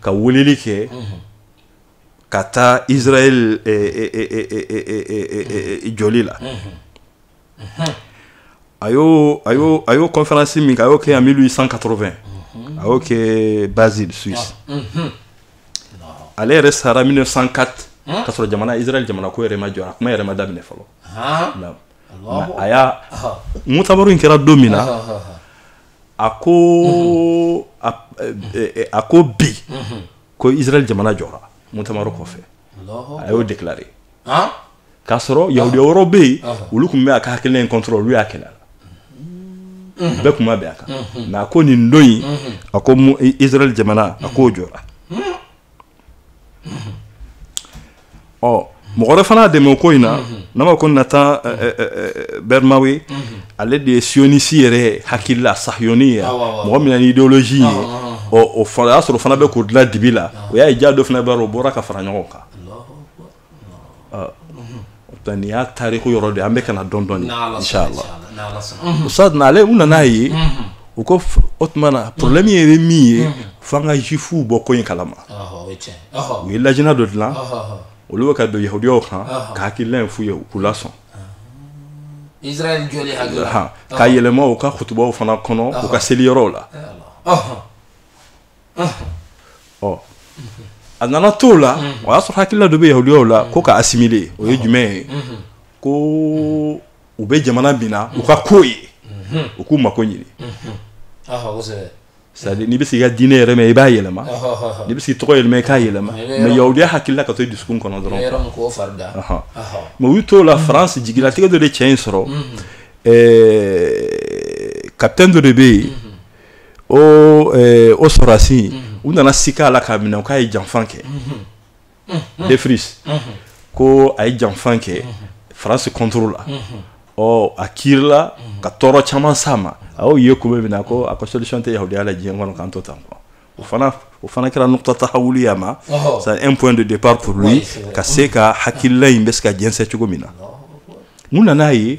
ka weleli kɛ ka taa israel joli la a y'o a y'o a y'o kɔnfɛransi min kɛ a y'o kɛ en mille huit cent quatre-vingt a y'o kɛ Basel Suisse ale yɛrɛ sara mille neuf cent quatre ka sɔrɔ jamana israel jamana ko yɛrɛ ma jɔ a kuma yɛrɛ ma daminɛ fɔlɔ a y'a mutamaru in kɛra don min na a ko a ko bi ko israel jamana jɔra mutamaru kɔfɛ a y'o déclaré k'a sɔrɔ yahudiya wɛrɛw bɛ yen olu tun bɛ a ka hakilina in contre olu y'a kɛlɛ a la mhm. bɛɛ tun ma bɛn a kan mhm. mais a ko nin don in mhm. a ko israel jamana a ko jɔra ɔ mɔgɔ wɛrɛ fana dɛmɛ o ko in na n'a ma ko Nathan Birnbaum ye ale de ye siyonisi yɛrɛ hakilila sayoni ye mɔgɔ min ni idéologie ye ɔ o y'a sɔrɔ fana bɛ k'o dilan dibi la o y'a ye ja dɔ fana b'a o bɔra ka fara ɲɔgɔn kan nin y'a tariku yɔrɔ de an bɛ ka dɔn dɔn sa ale u nana aa ye u ko o tuma na problème in ye min ye fo an ka juifuw bɔ ko in kalama u ye lajina dɔ dilan olu bɛ ka don yahudiyaw kan ka hakilila in f'u ye u k'u lasɔn ka yɛlɛma u ka kutubaw fana kɔnɔ u ka seli yɔrɔw la ɔ a nana to la o y'a sɔrɔ hakilila dɔ bɛ yahudiyaw la ko ka asimile o ye jumɛn ye ko u bɛ jamana min na u ka ko ye u k'u mako ɲini c'est-à-dire n'i bɛ se i ka diinɛ yɛlɛma i b'a yɛlɛma n'i bɛ se tɔgɔ yɛlɛma i k'a yɛlɛma mais yahudiya hakilila ka to dusu kɔnɔ dɔrɔn mais u t'o la faransi jigilatigɛ dɔ de cɛ in sɔrɔ kapitɛni dɔ de bɛ yen o sɔrɔdasi u nana siga a la k'a minɛ k'a ye janfa kɛ Dreyfus ko a ye janfa kɛ France contre la ɔ a kiirila ka tɔɔrɔ caman s'a ma a y'o ye tuma min na ko a ko solution tɛ yahudiya la diɲɛ kɔnɔ k'an to tan quoi o fana o fana kɛra nukta tahawuli y'a ma c'est un point de départ pour lui ka se ka hakilila in bɛ se ka jɛnsɛn cogo min na mun nan'a ye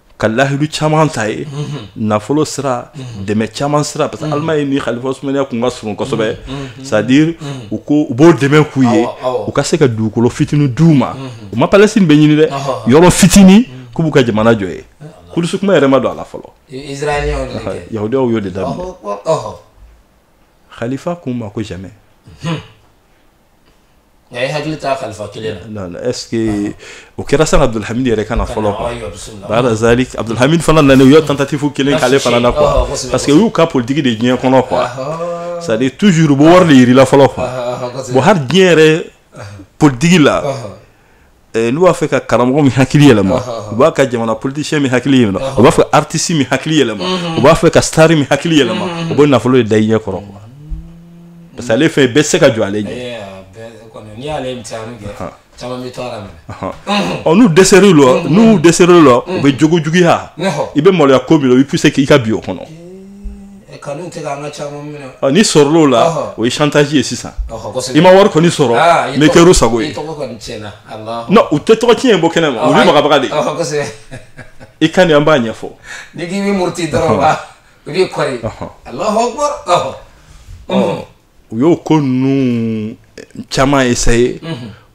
ka lahidu caman t'a ye nafolo sira dɛmɛ caman sira parce que alimaɲi ni khalifa usmaniya kun ka surun kosɛbɛ c'est à dire u ko u b'o dɛmɛ k'u ye u ka se ka dugukolo fitini d'u ma u ma palestine bɛɛ ɲini dɛ yɔrɔ fitini k'u b'u ka jamana jɔ yen kudusi kuma yɛrɛ ma don a la fɔlɔ yahudiyaw y'o de daminɛ khalifa kun ma ko jamais nka i hakili t'a kalifa kelen na la est ce que o kɛra sani abdulhamid yɛrɛ ka na fɔlɔ baada zalik abdulhamid fana nana u ye tentative kelen k'ale fana na quoi parce que o y'u ka politiki de diɲɛ kɔnɔ quoi c'est à dire toujours u bɛ wari de yirila fɔlɔ quoi bon hali diɲɛ yɛrɛ politiki la Eh, n'u b'a fɛ ka karamɔgɔ min hakili yɛlɛma u b'a ka jamana politisiyɛn min hakili yɛlɛma u b'a fɛ aritisi min hakili yɛlɛma mhm. u b'a fɛ ka sitari min hakili yɛlɛma mhm. u bɛ nafolo de da i ɲɛ kɔrɔ quoi parce que ale fɛn bɛɛ se ka jɔ ale ɲɛ eh, ɔ n'u dɛsɛr'u la mhm. n'u dɛsɛr'u la u bɛ jogo juguya i bɛ maloya ko min na u b'i puse k'i ka bin o kɔnɔ N'i sɔrɔla o ye chantage ye sisan i ma wari kɔni sɔrɔ n kɛ sago ye u tɛ tɔgɔ ci ye bɔ kɛnɛ ma makanbaga de i ka an b'a ɲɛfɔ u y'o ko ninnu caman ye sa ye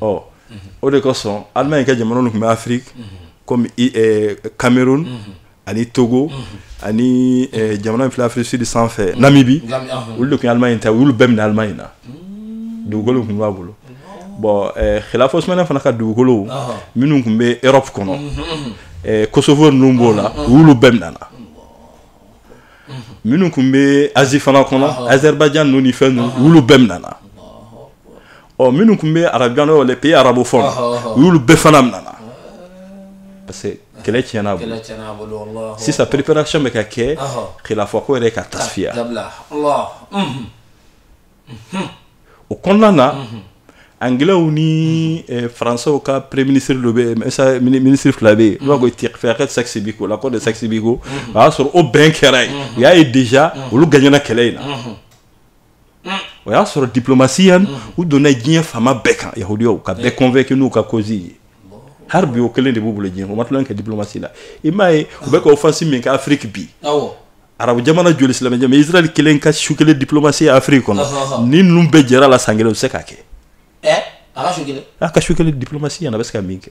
ɔ o de kosɔn alimaɲi ka jamana tun bɛ afiriki kɔmi kamerun ani togo ani jamana fila afrique sud sanfɛ namibi olu de tun alimaɲi ta olu bɛɛ minɛna alimaɲi na dugukolo tun b'a bolo bɔn khalifa usmaniya fana ka dugukolo minnu tun bɛ erɔpu kɔnɔ kosovo ninnu b'o la olu bɛɛ minɛna minnu tun bɛ azi fana kɔnɔ azɛribayijan ninnu ni fɛn ninnu olu bɛɛ minɛna ɔ minnu tun bɛ arabu kɔnɔ les pays arabes fɔ u y'olu bɛɛ fana minɛ a la parce que kɛlɛ tiɲɛn'a bolo sisan préparation bɛ ka kɛ khalifa ko yɛrɛ ka tasifiya o kɔnɔna na anglɛw ni faransɛw ka premier ministre dɔ bɛ yen ministre fila bɛ yen n'o ko fɛɛrɛ sykes picot l'accord de sykes picot o y'a sɔrɔ o bɛn kɛra yen u y'a ye déjà olu gaɲɛna kɛlɛ in na o y'a sɔrɔ diplomasi yan u donna diɲɛ faama bɛɛ kan yahudiyaw ka bɛɛ convaincu eh. n'u ka cause ye hali bi o kelen de b'u bolo diɲɛ u ma tulonkɛ kɛ diplomasi la i m'a ye u bɛ ka offensive min kɛ afiriki bi arabu jamana joli silamɛ jamana israel kelen ka su kelen diplomasi ye afiriki kɔnɔ ni ninnu bɛɛ jɛra la san kelen u bɛ se k'a kɛ eh, a ka su kelen diplomasi yan a bɛ se ka min kɛ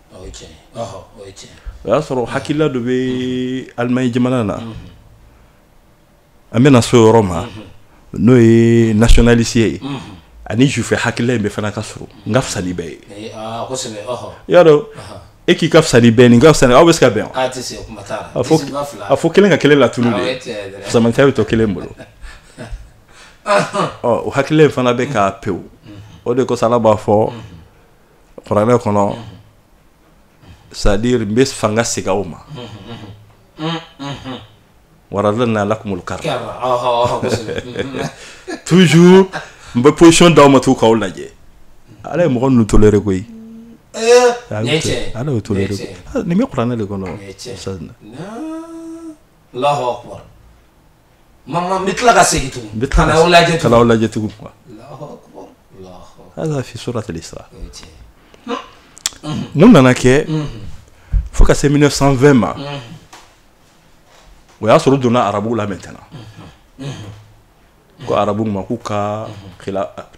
o y'a sɔrɔ hakilila dɔ bɛ alimaɲi jamana na an bɛna s'o yɔrɔ ma n'o ye nationalisme ye ani sufɛ hakilila in bɛ fana ka sɔrɔ n ka fisa ni bɛɛ ye y'a dɔn e k'i ka fisa ni bɛn nin ka fisa aw bɛ se ka bɛn a tɛ se kuma t'a la a fɔ Disibila fila. a fɔ kelen ka kelen latunu Awɔ, e tɛ de dɛ. fisamantɛya bɛ to kelen bolo ɔ o hakilila in fana bɛ k'a pewu o de kosɔn ala b'a fɔ kuranɛ kɔnɔ c'est-à-dire n bɛ fanga segin aw ma wa radadna lakumul karra toujours n bɛ position d'aw ma taa k'aw lajɛ ala ye mɔgɔ ninnu tolérer koyi ala to nin bɛ kuranɛ de kɔnɔ mama n bɛ tila ka segin tugun n bɛ tila ka lajɛ tugun k'aw lajɛ tugun quoi hada fi suratul isra mun nana kɛ fo ka se 1920 ma o y'a sɔrɔ u donna arabuw la maintenant ko arabu ma k'u ka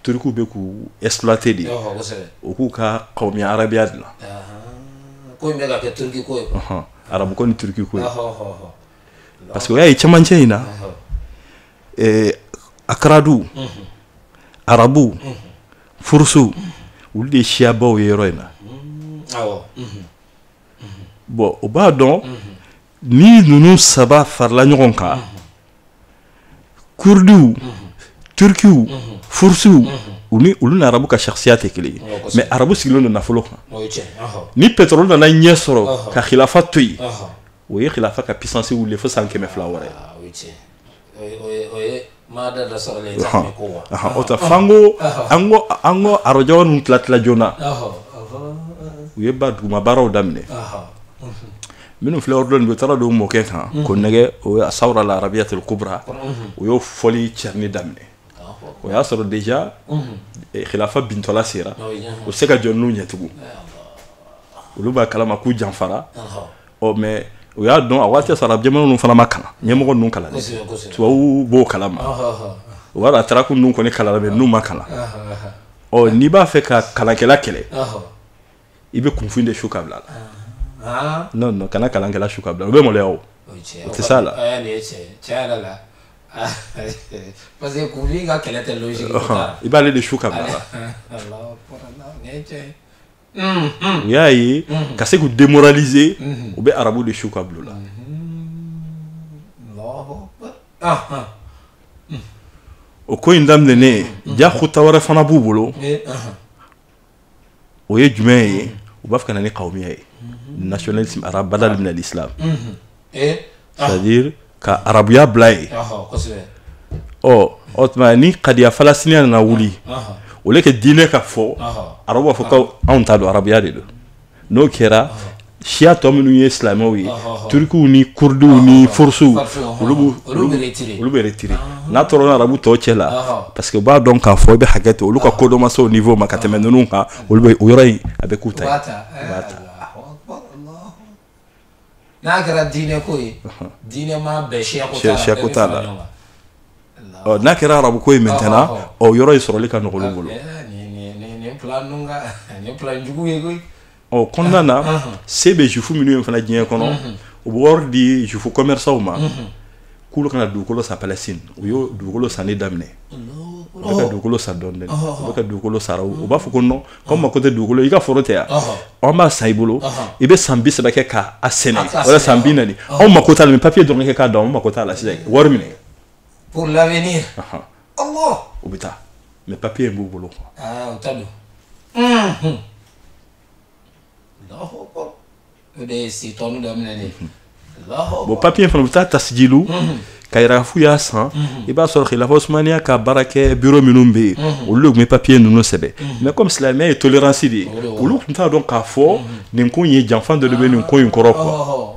turkiw bɛ k'u exploiter de u k'u ka qawmiya arabiya dilan ko in bɛ ka kɛ turiki ko ye arabu ko ni turiki ko ye parce que o y'a ye cɛmancɛ in na eh, akaradu arabu furusu olu de ye siyabaw ye yɔrɔ in na awɔ bɔn o b'a dɔn ni ninnu saba farala ɲɔgɔn kan kurdiw turkiw furusiw u ni olu ni arabu ka siya tɛ kelen ye mɛ arabu sigilen don nafolo kan ni pɛtɔrɔli nana ye sɔrɔ ka khilafa to yen o ye khilafa ka pisansi wuli fo san kɛmɛ fila wɛrɛ o ta fan ko an ko an ko arajɔ ninnu tila tila joona u ye ba duguma baaraw daminɛ minnu filɛ yɔrɔ dɔn u taara don mɔkɛ kan mhm. k'o nɛgɛn o ye sawura al arabiyatul kubra mhm. o y'o fɔli cɛni daminɛ o y'a sɔrɔ deja khilafa mhm. eh, bintɔla sera u se ka jɔ n'u ɲɛtugu olu b'a kalama k'u janfara ɔ mɛ u y'a dɔn a waati sara jamana ninnu fana ma kalan ɲɛmɔgɔ ninnu kalan tubabu b'o kalama o b'a dɔn ataraku ninnu kɔni kalan mɛ ninnu ma kalan ɔ n'i b'a fɛ ka kalankɛla kɛlɛ i bɛ kunfin de su ka bila la n'o nɔ kana kalankɛla su ka bila u bɛ maloya o tɛ se la parce que kunfin ka kɛlɛ tɛ i b'ale de su ka bila u y'a ye ka se k'u denlize u bɛ arabu de su ka bila la o ko in daminɛnen jaa kota wɛrɛ fana b'u bolo o ye jumɛn ye u b'a fɛ ka na ni qawmiya ye nationalisme arabe badal minal islam c'est à dire ka arabuya bila yen ɔ o tuma ni qadiya falastiniya nana wuli o tɛ kɛ diinɛ ka fɔ arabu b'a fɔ ko anw ta don arabuya de don n'o kɛra siya tɔ minnu ye silamɛw ye turikiw ni kurdiw ni furusiw olu bɛ retire n'a tora arabu tɔw cɛ la parce que u b'a dɔn k'a fɔ i bɛ hakɛ to olu ka kodɔn ma se o niveau ma ka tɛmɛ ninnu kan olu o yɔrɔ in a bɛ k'u ta n'a kɛra diinɛ ko ye diinɛ ma bɛn siya ko t'a la siya ko t'a la ɔ n'a kɛra arabu ko ye maintenant o yɔrɔ in sɔrɔli ka nɔgɔ olu bolo nin plan ninnu ka nin plan jugu ye koyi o kɔnɔna na se bɛ jufu minnu ye fana diɲɛ kɔnɔ u bɛ wari di jufu commerçants ma k'olu ka na dugukolo san Palestine u y'o dugukolo sanni daminɛ u bɛ ka dugukolo san dɔɔni dɔɔni u bɛ ka dugukolo san u b'a fɔ ko non k'anw mako tɛ dugukolo i ka foro tɛ yan an b'a san i bolo i bɛ san bi saba kɛ k'a sɛnɛ wala san bi naani anw mako t'a la ni papier dɔrɔn kɛ k'a don anw mako t'a la sisan wari minɛ pour l'avenir u bɛ taa mais papier in b'u bolo quoi o de ye si tɔnu daminɛ de bon papiye fana u bɛ taa tasijili k'a yira k'a fɔ u y'a san i b'a sɔrɔ khilafa usumaniya ka baara kɛ biro minnu bɛ yen olu de tun bɛ papiye ninnu sɛbɛn mais comme silamɛya ye tolerance de ye olu tun t'a dɔn k'a fɔ nin ko in ye janfa dɔ de bɛ nin ko in kɔrɔ quoi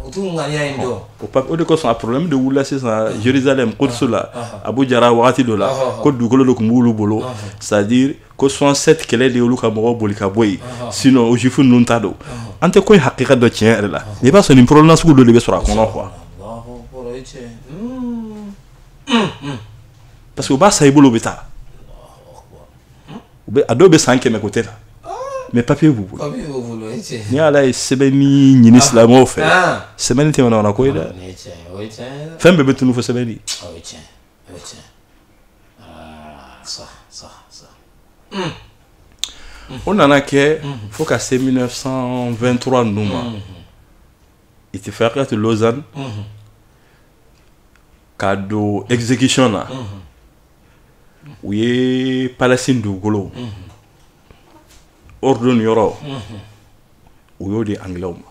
o de kosɔn a problème de wulila sisan Jérusalem Quds la Abu Jara wagati dɔ la ko dugukolo de tun b'olu bolo c'est à dire ko 67 kɛlɛ de y'olu ka mɔgɔw boli ka bɔ yen sinon o jufu ninnu ta don an tɛ ko in hakika dɔn tiɲɛ yɛrɛ la n'i b'a sɔrɔ nin problème sugu dɔ de bɛ sɔrɔ a kɔnɔ quoi parce que u b'a san i bolo u bɛ taa u bɛ a dɔw bɛ san kɛmɛ kɛ u tɛ na mais papier b'u bolo ni ala ye sɛbɛnni ɲini silamɛw fɛ sɛbɛnni tɛ manamana ko ye dɛ fɛn bɛɛ bɛ tunu fo sɛbɛnni Eh, tiɲɛ aa sa sa sa o nana kɛ fo ka se 1923 ninnu ma itifaqiyatu lausanne ka don exécution na u ye palestine dugukolo urdun yɔrɔ u y'o di angilɛw ma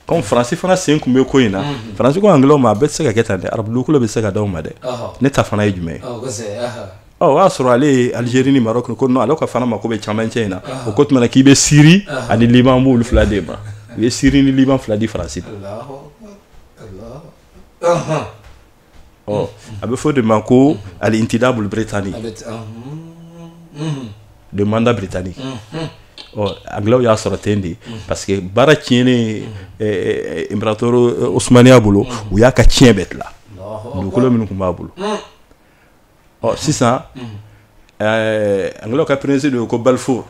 kɔmi faransi fana sen tun bɛ ko in na faransi ko angilɛw ma a tɛ se ka kɛ tan dɛ arabu dugukolo bɛɛ tɛ se ka d'aw ma dɛ ne ta fana ye jumɛn o y'a sɔrɔ ale ye alizeri ni marɔku ko ale fana mako bɛ cɛmancɛ in na u ko o tuma k'i bɛ siri ani liban b'olu fila d'e ma u ye siri ni liban fila di faransi ɔ a bɛ fɔ de ma ko al intidabul britani le mandat britannique ɔ anglaisw y'a sɔrɔ ten de parce que baara tiɲɛnen imperatori osmaniya bolo u y'a ka tiɲɛ bɛɛ tila dugukolo minnu tun b'a bolo ɔ sisan anglaisw ka peresidan ye ko Balfour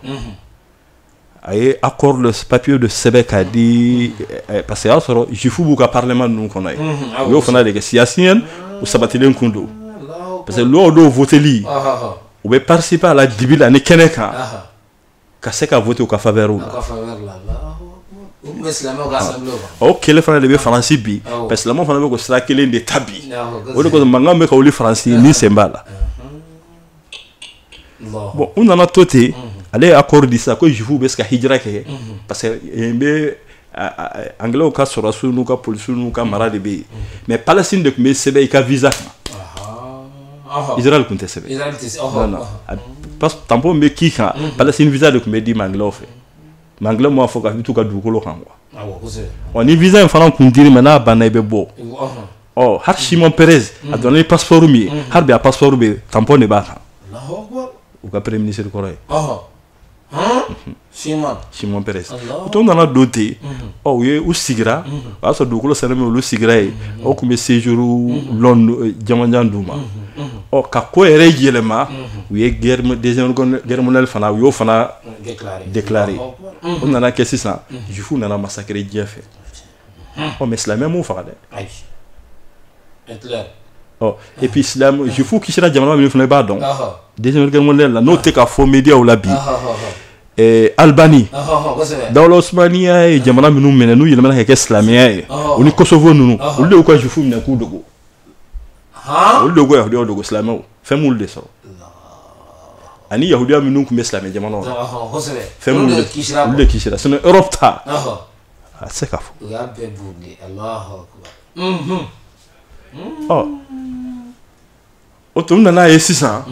a ye accord papiye de sɛbɛn k'a di eh, parce que y'a sɔrɔ jufu b'u ka parlement ninnu kɔnɔ ye u y'o fana de kɛ siyasiyan u sabatilen kun don parce que loi dɔw voteli u bɛ participer a la dibi la ni kɛnɛ kan ka se ka vote u ka faveur la o kelen fana de bɛ faransi bi parce que silamɛw fana bɛ k'o sira kelen de ta bi o de kosɔn mankan bɛ ka wuli faransi ni sen b'a la Bon u nana to ten ale ye accord di sa ko jufu bɛ se ka hijira kɛ parce que yen bɛ anglaisw ka sɔrɔdasiw n'u ka polisiw n'u ka mara de bɛ yen mais Palestine de tun bɛ sɛbɛn i ka visa kan Israël tun tɛ sɛbɛn tampon bɛ k'i kan Palestine visa de tun bɛ di i ma anglaisw fɛ mais anglais m'a fɔ ko i t'u ka dugukolo kan quoi awɔ kosɛbɛ ɔ ni visa in fana kun dir'i ma n'a banna i bɛ bɔ ɔhɔn ɔ hali Shimon Peres a donna ni passeport min ye hali bi a passeport bɛ tampon de b'a kan alahu akubar u ka premier ministre kɔrɔ ye ɔhɔn han siman Shimon Peres Allahu to nana don ten ɔ u ye u sigira o y'a sɔrɔ dugukolo sɛnɛ min olu sigira yen o tun bɛ séjour long janmanjan d'u ma ɔ ka ko yɛrɛ yɛlɛma u ye guerre mo- deuxième guerre mondiale fana u y'o fana déclaré o nana kɛ sisan jufu nana masakere diɲɛ fɛ ɔ mais silamɛ m'u faga dɛ ɔ et puis silamɛ jufu kisira jamana min fana i b'a dɔn deuxième guerre mondiale la n'o tɛ ka fɔ médiaw la bi eh, Albanie dawla osmaniya ye jamana minnu minɛ n'u yɛlɛmana ka kɛ silamɛya ye o ni Kosovo ninnu olu de y'u ka jufu minɛ k'u dogo olu de ko yahudiyaw dogo silamɛw fɛn m'olu de sɔrɔ ani yahudiya minnu tun bɛ silamɛ jamanaw la fɛn minnu olu de kisira sinɔn europe ta a tɛ se ka fɔ ɔ o tun nana ye sisan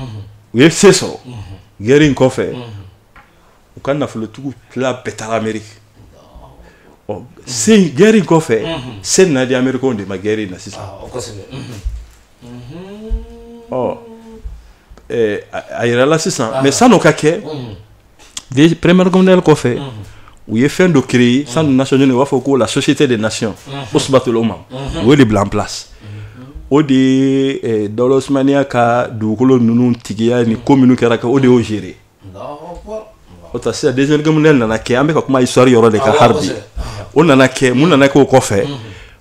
u ye se sɔrɔ gɛrɛ in kɔfɛ u ka nafolotigiw tila bɛɛ taara Ameriki ɔ se gɛrɛ in kɔfɛ se nana di amerikaw de ma gɛrɛ in na sisan ɔ a yirala sisan mais sann'o ka kɛ première guerre mondiale kɔfɛ u ye fɛn dɔ créer instance nationale u b'a fɔ ko la société des nations usbatul umam o de bila en place o de ye eh, dawula usmaniya ka dugukolo ninnu tigiya ni ko minnu kɛra o de y'o gérer o ta sisan deuxième guerre mondiale nana kɛ an bɛ ka kuma histoire yɔrɔ de kan hali bi o nana kɛ mun nana kɛ o kɔfɛ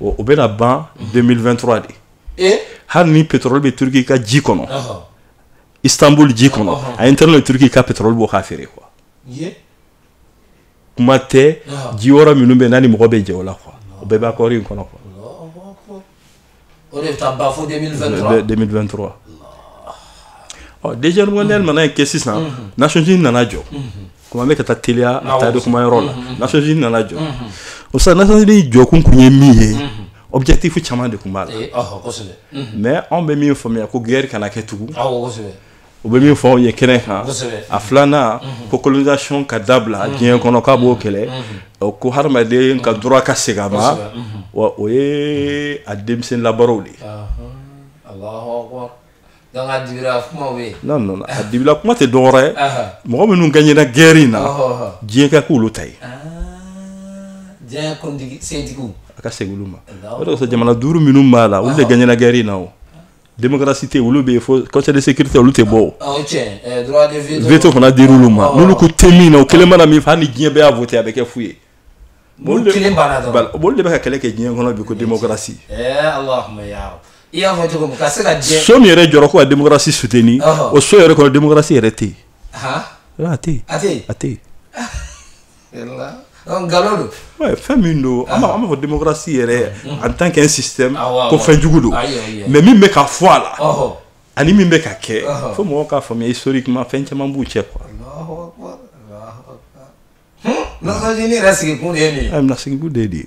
o bɛna ban 2023 de eh? hali ni pétrole bɛ Turquie ka ji kɔnɔ Istanbul ji kɔnɔ a interne Turquie ka pétrole bɔ k'a feere quoi kuma tɛ ji yɔrɔ minnu bɛ n'a ni mɔgɔ bɛ jɛ o la quoi o bɛɛ bɛ accord in kɔnɔ quoi o de bɛ taa ban fo 2023 2023 ɔ deuxième guerre mondiale bannen kɔ sisan Nations Unies nana jɔ komi an bɛ ka taa teliya a taali kuma yɔrɔ la Nations Unies nana jɔ o sisan Nations Unies jɔkun kun ye min ye objectif caman de tun b'a la mais anw bɛ min faamuya ko guerre kana kɛ tugun u bɛ min fɔ ye kɛnɛ kan a filanan ko colonisation ka dabila diɲɛ kɔnɔ k'a b'o kɛlɛ ko hadamaden ka droit ka segin a ma wa o ye a denmisɛn labaara o de dabila kuma tɛ dɔw ye mɔgɔ minnu gagnéna guerre in na diɲɛ ka k'olu ta ye a ka segin ma o jamana duuru minnu b'a la olu de gagnéna guerre in na démocratie tɛ olu bɛ yen fo conseil de sécurité olu tɛ bɔ o. Ah, eh, veto fana dira olu ma n'olu k'u tɛ min na o kelen mana min fɛ hali ni diɲɛ bɛɛ y'a voté a bɛ kɛ fu ye. olu kelen banna dɔrɔn olu de bɛ ka kɛlɛ kɛ diɲɛ kɔnɔ bi ko démocratie. ɛɛ eh, alahuma yaa i y'a fɔ cogo min ka se ka diɲɛ. so min yɛrɛ jɔra ko ka démocratie soutenir o so yɛrɛ kɔnɔ démocratie yɛrɛ tɛ yen. a tɛ yen a tɛ yen a tɛ yen. nkalon don ouais, fɛn min don an m'a fɔ démocratie yɛrɛ en tant qu'un système ko fɛn jugu don mais min bɛ ka fɔ a la ani min bɛ ka kɛ fo mɔgɔw k'a faamuya historiquement fɛn caman b'u cɛ quoi Nations Unies yɛrɛ sigikun de ye nin ye Nations Unies de ye nin ye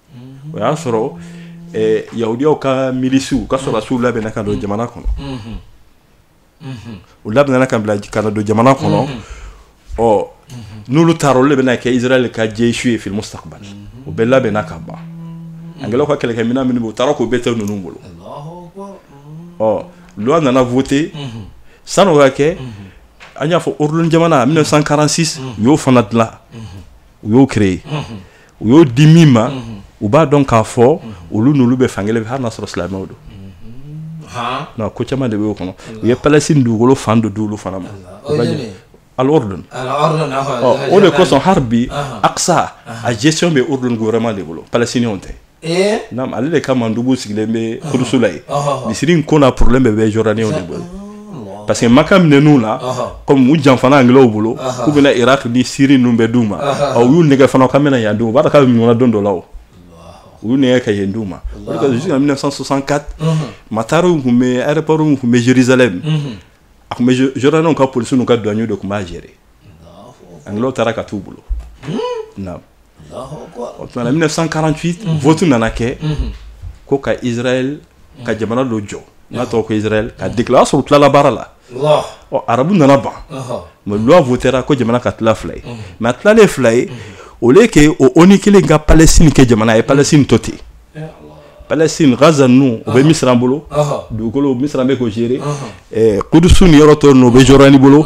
o y'a sɔrɔ yahudiyaw ka milisiw ka sɔrɔdasiw labɛnna ka don jamana kɔnɔ u labɛnna ka bila ka don jamana kɔnɔ ɔ n'olu taara olu de bɛna kɛ israɛl ka jayshu ye fil mustaqbali u bɛɛ labɛnna ka ban angilɛw ka kɛlɛkɛ minɛn minnu u taara k'o bɛɛ to ninnu bolo ɔ loi nana voter san'o ka kɛ an y'a fɔ Urdun jamana 1946 u y'o fana dilan u y'o créer u y'o di min ma u b'a dɔn k'a fɔ olu n'olu bɛ fan kelen hali sɔrɔ silamɛw don ko caman de b'o kɔnɔ u ye Palestine dugukolo fan dɔ d'olu fana ma o de kosɔn hali bi Aqsa a gestion bɛ Urdun de bolo Palestine tɛ ale de ka dugu sigilen bɛ Kudusi la yen misiri in ko n'a problème bɛɛ bɛ Jordanie de bolo parce que maka minɛn'u la comme u janfana anglais bolo k'u bɛna iraq ni Syrie ninnu bɛɛ d'u ma u y'u nɛgɛn fana ka mɛna yan d'u u b'a dɔn k'a bɛ ɲɔgɔnna don dɔ la o u y'u nɛgɛn ka yen d'u ma o de ka jusqu'en 1964 matari tun bɛ aéroport tun bɛ Jérusalem a tun bɛ Jordaniens ka policiers n'u ka douaniers de tun b'a gérer anglais taara ka t'u bolo na o tuma na 1948 vote nana kɛ ko ka israel ka jamana dɔ jɔ n'a tɔgɔ ko israel k'a déclarer o y'a sɔrɔ u tilala baara la ɔ arabu nana ban mais loi votera ko jamana ka tila fila ye mais a tilalen fila ye au lieu que o onu kelen ka palestine kɛ jamana a ye palestine to ten palestine gaza ninnu o bɛ misira bolo dugukolo misira bɛ k'o gérer kudusu ni yɔrɔ tɔ ninnu o bɛ jordanie bolo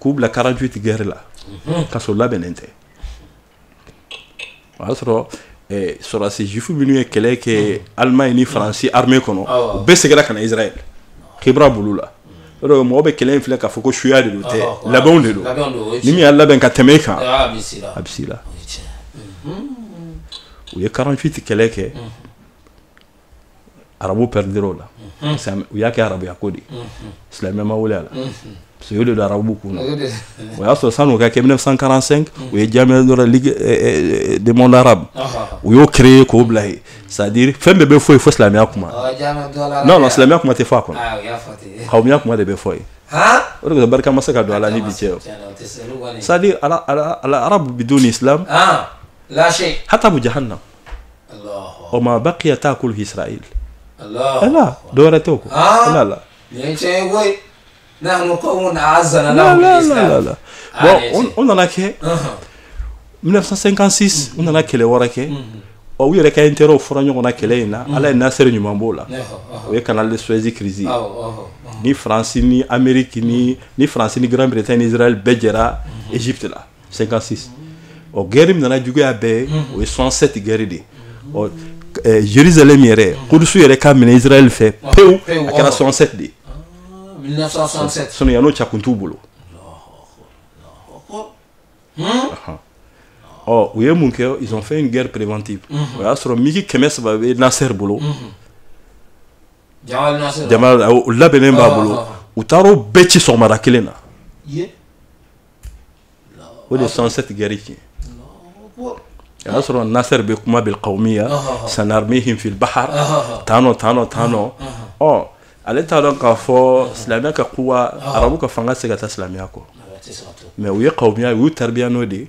k'u bila 48 guerre la k'a sɔrɔ u labɛnnen tɛ o y'a sɔrɔ eh, sɔrɔdasi juif minnu ye kɛlɛ kɛ alimaɲi ni faransi armée kɔnɔ u bɛɛ segira ka na israɛl kibra bolo la o de mɔgɔ bɛ kɛlɛ in filɛ k'a fɔ ko suya de don tɛ labɛn de don ni min y'a labɛn ka tɛmɛ i kan a bɛ se i la u ye 48 kɛlɛ kɛ arabu pɛridira o la u y'a kɛ arabuya ko de silamɛ ma wele a la so de don arabu kun o y'a sɔrɔ 1945 u ye ligue du monde arabe u y'o créer k'o bila yen c'est-à-dire fɛn bɛɛ bɛ fɔ yen fo silamɛya kuma n' silamɛya kuma tɛ fɔ kawumiya kuma de bɛ fɔ yen o de barika ma se ka don a la ni bi cɛ c'est-à-dire al arabu biduni islam hatabu jahannam wa ma baqiya taakulu israel ala dɔwɛrɛ tɛ ko ala la bon 1956 u nana kɛlɛ wɛrɛ kɛ ɔ u yɛrɛ ka intérêt o fɔra ɲɔgɔn na kɛlɛ in na ala ye nasser ɲuman b'o la o ye canal de suez crise ni faransi ni américain ni faransi ni grande bretagne ni israel bɛɛ jɛra égypte la 56 ɔ guerre min nana juguya bɛɛ ye o ye 67 guerre de ɔ eh, jerusalem yɛrɛ kudusu yɛrɛ ka minɛ israɛl fɛ pewu a kɛra 67 de sinon yan'o cɛ a kun t'u bolo ɔ u ye mun kɛ ils ont fait une guerre préventive o y'a sɔrɔ mig kɛmɛ saba bɛ nasser bolo jama labɛnnen b'a bolo u taar'o bɛɛ ci sɔgɔmada kelen na o de 67 guerre tiɲɛ a y'a sɔrɔ nasser bɛ kuma bɛ kawumiya sanarmihim fil bahr tan tan tan ɔ ale t'a dɔn k'a fɔ silamɛya ka kuwa arabu ka fanga tɛ se ka taa silamɛya kɔ mais u ye kawumiya u y'u taya n'o de ye